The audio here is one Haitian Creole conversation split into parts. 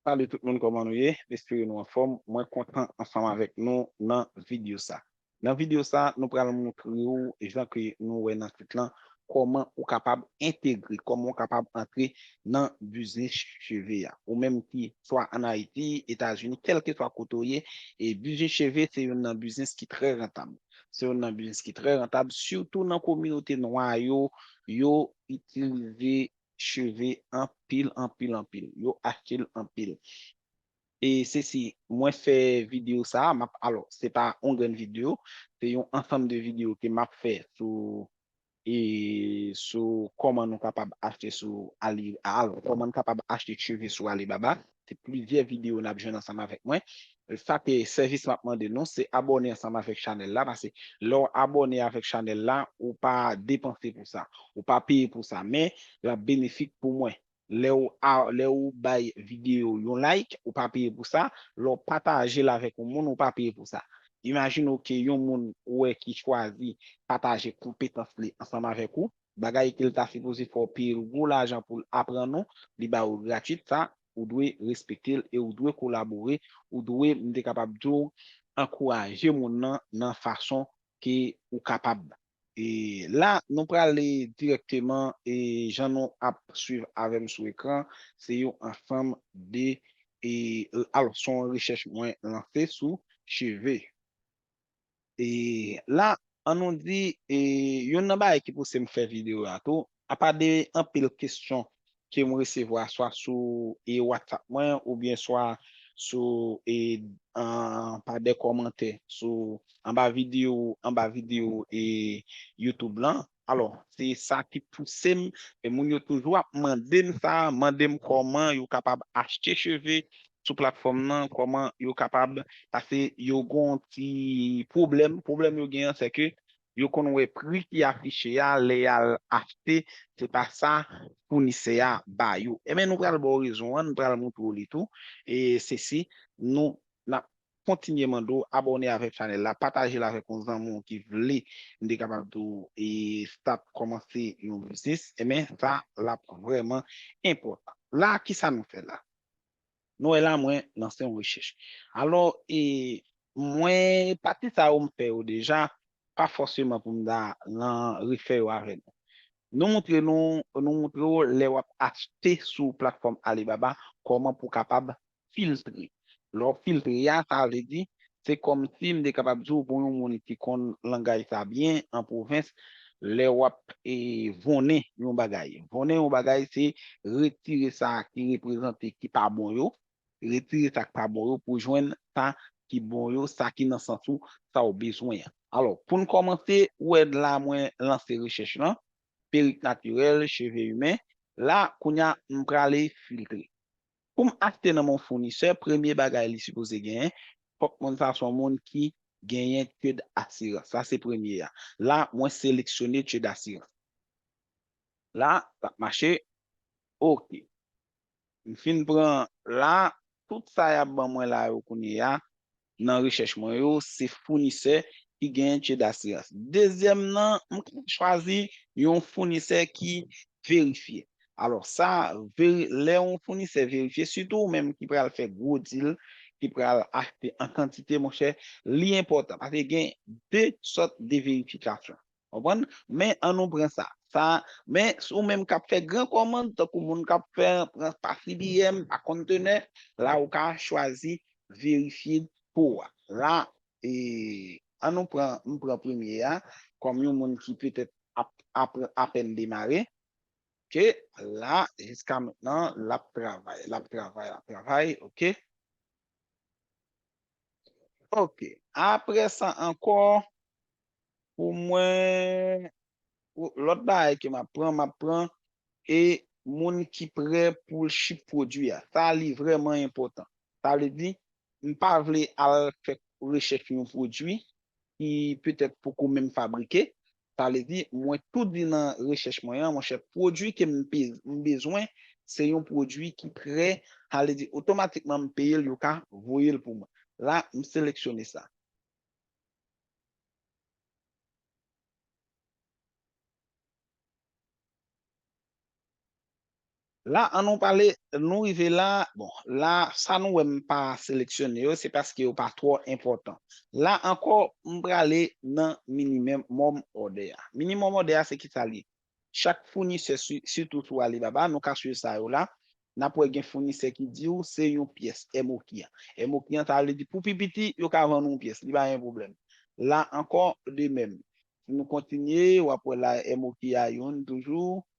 Salut tout moun koman nou ye m espere nou anfom mwen kontan ansanm avek nou nan video sa nan video sa nou pral moutre ou jan ke nou wè nan tit lan koman ou kapab entegre koman ou kapab antre nan biznis cheve a ou menm ki swa an ayiti etazini kelkeswa kote ou ye e biznis cheve se youn nan biznis ki trè rantab. Se youn nan biznis ki trè rantab, sitou nan kominote nwa yo, yo itilize cheve anpil, anpil, anpil. Yo achte l anpil. E se si mwen fè videyo sa a, m ap, alò, se pa yon grenn videyo, se yon ansanm de videyo ke m ap fè sou E sou kòman nou kapab achte sou Ali al kòman nou kapab achte cheve sou Alibaba se plizyè video nap jwenn ansanm avèk mwen sa se sèvis map mande nou se abòne ansanm avèk chanèl la pase lè w abòne avèk chanèl la ou pa depanse pou sa ou pa peye pou sa men lap benefik pou mwen Lè ou bay videyo yon like, ou pa peye pou sa, lè ou pataje l avèk yon moun, ou pa peye pou sa. Imajine w ke yon moun ou wè ki chwazi pataje konpetans li ansanm avèk ou, bagay ke l ta sipoze fè w peye l gwo lajan pou l aprann ou, li ba ou gratis sa, ou dwe respekte l e ou dwe kolabore, ou dwe, m te kapab di w, ankouraje moun nan nan fason ke ou kapab. E la nou prale direkteman e jan nou ap swiv avèm sou ekran se yon ansanm de e alò son rechèch mwen lanse sou cheve. E la an nou di e yonn nan bagay ki pousem fè video a tou Apa de anpil kestyon ke m resevwa swa sou e WhatsApp mwen oubyen swa sou e pa de kòmantè sou anba video anba video e YouTube lan alò se sa ki pouse m e moun yo toujou ap mande m sa mande m kòman yo kapab achte cheve sou platfòm nan kòman yo kapab pase yo gon ti pwoblèm pwoblèm yo gen an se ke yo konn wè pri ki afiche a lè yal achte se pa sa founisè a ba yo enben nou pral baw rezon an n pral moutre w li tou e sesi nou nap kontinye mande w abòne avèk chanèl la pataje l avèk yon zanmi w ki vle m te kapab di w e start kòmanse yon biznis enben sa lap vrèman enpòtan la kisa nou fè la. Nou wè la mwen lanse yon rechèch. Alò e mwen pati sa yo m fè yo deja pa fòseman pou m ta lan refè yo avè nou. Nou moutre nou nou moutre w lè w ap achte sou platfòm Alibaba kòman pou w kapab filtre. Lè w filtre a sa vle di Se kòmsi m te kapab di w pou yon moun ki konn langaj sa byen an pwovens, lè w ap vonnen yon bagay. Vonnen yon bagay se retire sa ki reprezante ki pa bon yo, retire sa k pa bon yo pou jwenn sa ki bon yo, sa ki nan sans ou, sa w bezwen an. Alò, pou n kòmanse, ou wè la mwen lanse rechèch lan, perik natirèl, cheve imen. La, kounye a, m prale filtre. Pou m achte nan men yon founisè, premye bagay li sipoze genyen, fòk moun sa son moun ki genyen Ced Asirans. Sa se premye a. La, mwen seleksyone Ced Asirans. La, l ap mache. Ok. M fin pran la, tout sa y ap ban mwen la yo kounyeya, nan rechèch mwen yo se founisè ki gen che d'asirans. Dezyèm nan, m ka chwazi yon founisè ki verifye. Alò sa, lè yon founisè verifye, sitou ou menm ki pral fè gwo dil, ki pral achte an kantite monchè, li enpòtan paske gen de sòt de verifikasyon. Konprann? Men, an nou pran sa. Sa, men, si ou menm k ap fè gran kòmand, tankou moun k ap fè, pran pa CBM, pa konntenè, la ou ka chwazi verifye pou ou a. La, e, an nou pran, m pran premye a, kòm yon moun ki petèt ap, ap, apèn demare. Ke, la, jiska mentnan, l ap travay, l ap travay, l ap travay, oke. Ok, apre sa ankò, pou mwen, lòt bagay ke m ap pran, m ap pran, e moun ki prè pou l ship pwodui a. Sa li vrèman enpòtan. Sa vle di, m pa vle al fè rechèch yon pwodui, ki petèt poko menm fabrike, sa vle di mwen tou di nan rechèch mwen an monchè pwodui ke m bezwen se yon pwodui ki prè, sa vle di otomatikman m peye l yo ka voye l pou mwen. La m seleksyone sa. La an nou pale nou rive la bon la sa nou wè m pa seleksyone yo se paske yo pa twò enpòtan la ankò m prale nan minimum order a minimum order a se kisa li chak founisè sitou sou Alibaba nou ka swiv sa yo la n ap wè gen founisè ki di ou se yon pyès MOQ an MOQ an sa vle di pou pi piti yo ka vann ou yon pyès li pa gen pwoblèm la ankò de mèm si nou kontinye w ap wè la MOQ a yon toujou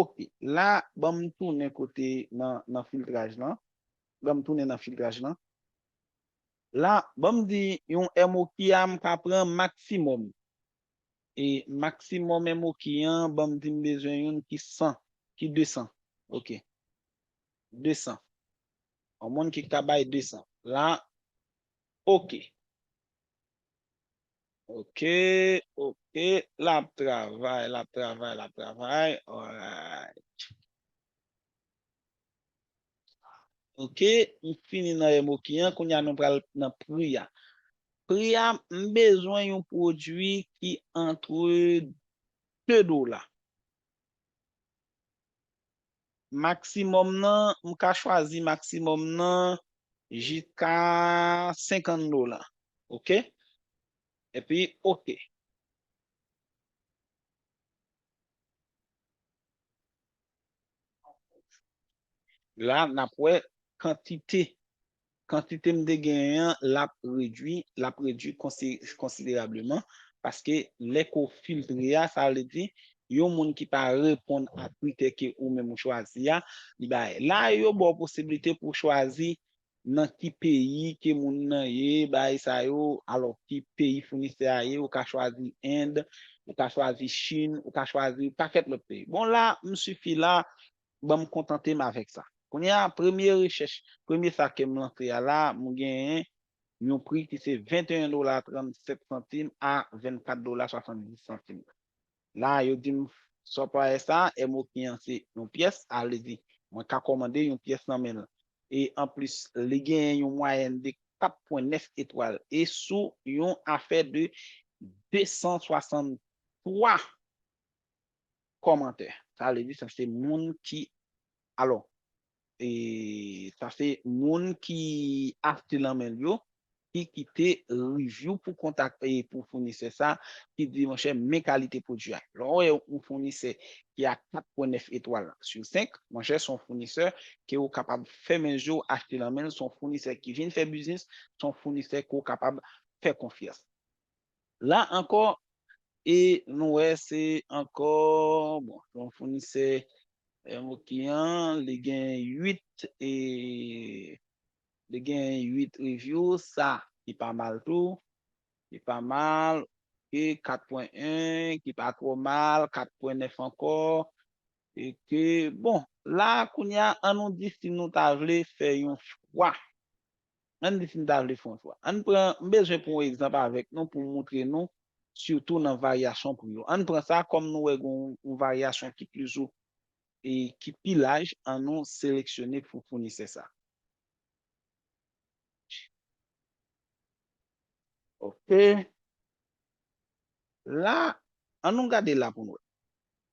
Ok la banm tounen kote nan nan filtraj lan banm tounen nan filtraj lan la banm di yon MOQI a mka pran maksimòm e maksimòm MOQI an banm di m bezwen youn ki 100 ki 200 ok 200 yon moun ki ka bay 200 la ok Ok ok lap travay lap travay lap travay alright ok m fini nan emoki an kounye a nou pral nan pri a pri a m bezwen yon pwodui ki antre 2 dola. Maksimòm nan, m ka chwazi maksimòm nan jiska 50 dola. Ok. Epi ok. La n ap wè kantite Kantite m te genyen an l ap redui, l ap redui konsiderableman, paske lè ke w filtre a, sa vle di, yon moun ki pa reponn a kritè ke ou menm ou chwazi a, li bay. La yo ba w posibilite pou w chwazi nan ki peyi ke moun nan ye, bagay sa yo, alò ki peyi founisè a ye, ou ka chwazi End, ou ka chwazi Chin, ou ka chwazi pakèt lòt peyi. Bon la, m sifi la, ban m kontante m avèk sa. Kounye a, premye rechèch, premye sa ke m lanse a la, m genyen yon pri ki se 21 dola 37 santim a 24 dola 70 santim. La a, yo di m, Supplier sa a, MOQ an, se yon pyès, alezi, mwen ka kòmande yon pyès nan men l. E anplis, li genyen yon mwayèn de 4 pwen 9 etwal e sou yon afè de 263. kòmantè. Sa vle di sa se moun ki alò e sa se moun ki achte lan men l yo ki kite reviou pou kontak e pou founisè sa ki di monchè men kalite pwodui a. Lè w wè yon founisè ki a 4 pwen 9 etwal sou 5 monchè son founisè ke ou kapab fèmen je w achte lan men l son founisè ki vin fè biznis son founisè ke w kapab fè konfyans. La ankò e nou wè se ankò bon se yon founisè ok an li gen 8 e li gen 8 review sa ki pa mal tou ki pa mal ok 4 pwen 1 ki pa twò mal 4 pwen 9 ankò ok bon la kounya an nou di si nou ta vle fè yon chwa Ann di si n ta vle fè yon chwa. Ann pran, m bezwen pran yon egzanp avèk nou pou m montre nou sitou nan varyasyon pri yo. Ann pran sa kòm nou wè gen yon varyasyon ki pizou e ki pi laj, an nou seleksyone pou founisè sa. Ok. La, an nou gade la pou n wè.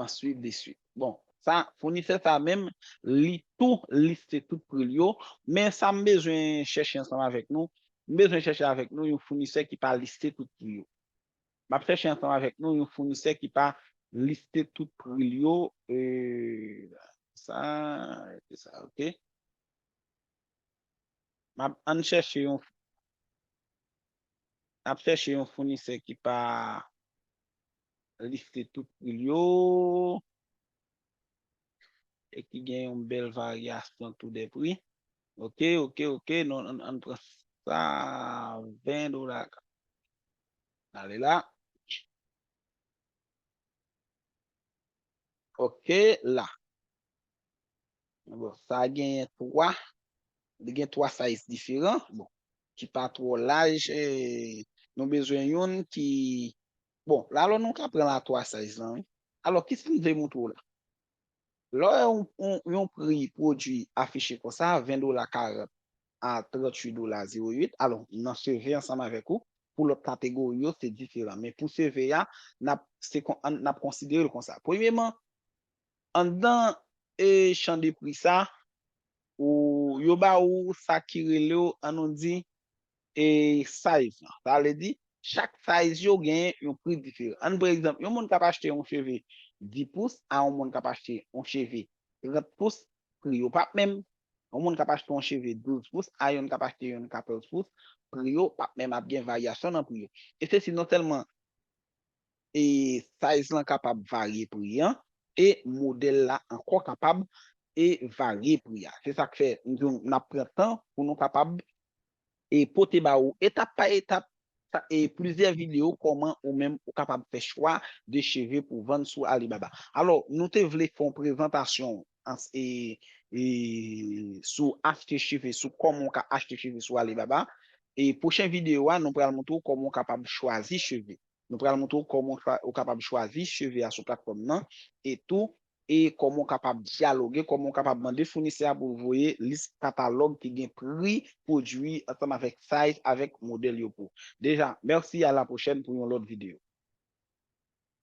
an suiv li suiv. Bon, sa founisè sa menm li tou liste tout pri l yo, men sa m bezwen chèche ansanm avèk nou, m bezwen chèche avèk nou yon founisè ki pa liste tout pri yo. M ap chèche ansanm avèk nou yon founisè ki pa liste tout pri l yo, sa, epi sa ok. M ap, an n chèche yon, n ap chèche yon founisè ki pa liste tout pri l yo e ki gen yon bèl varyasyon tou de pri. Ok, ok, ok, nou ann pran sa 20 dola. Ale la. Ok la. Bon, sa a genyen 3, li gen 3 size diferan, bon, ki pa twò laj, nou bezwen youn ki, bon, la alò nou ka pran la 3 size lan wi. Alò, ki sa m vle montre w la? Lè w wè yon pri pwodui afiche kon sa, 20 dola 40 a 38 dola 08, alò, nan CV ansanm avèk ou, pou lòt kategori yo se diferan, men pou CV a, n ap, se kon, n ap konsidere l kon sa. Premyeman, Anndan chan de pri sa, ou yo ba ou sa ki rele w an nou di e size lan. Sa vle di chak size yo gen yon pri diferan. An pre egzanp yon moun k ap achte yon cheve 10 pous a yon moun k ap achte yon cheve 30 pous pri yo p ap menm. Yon moun k ap achte yon cheve 12 pous a youn k ap achte youn 14 pous pri yo p ap menm ap gen varyasyon nan pri yo. E se si non sèlman e size lan kapab varye pri an e modèl la ankò kapab e varye pri a se sak fè m di w nap pran tan pou nou kapab e pote ba ou etap pa etap e plizyè video kòman ou menm ou kapab fè chwa de cheve pou vann sou Alibaba alò nou te vle fon prezantasyon ans e e sou achte cheve sou kòman ou ka achte cheve sou Alibaba e pwochen video a nou pral montre w kòman ou kapab chwazi cheve. Nou pral montre w kòman ou kapab chwazi cheve a sou platfòm nan e tou e kòman ou kapab dyaloge, kòman ou kapab mande founisè a pou l voye lis katalòg ki gen pri pwodui ansanm avèk size avèk modèl yo pou. Deja, merci a la pwochèn pou yon lòt video.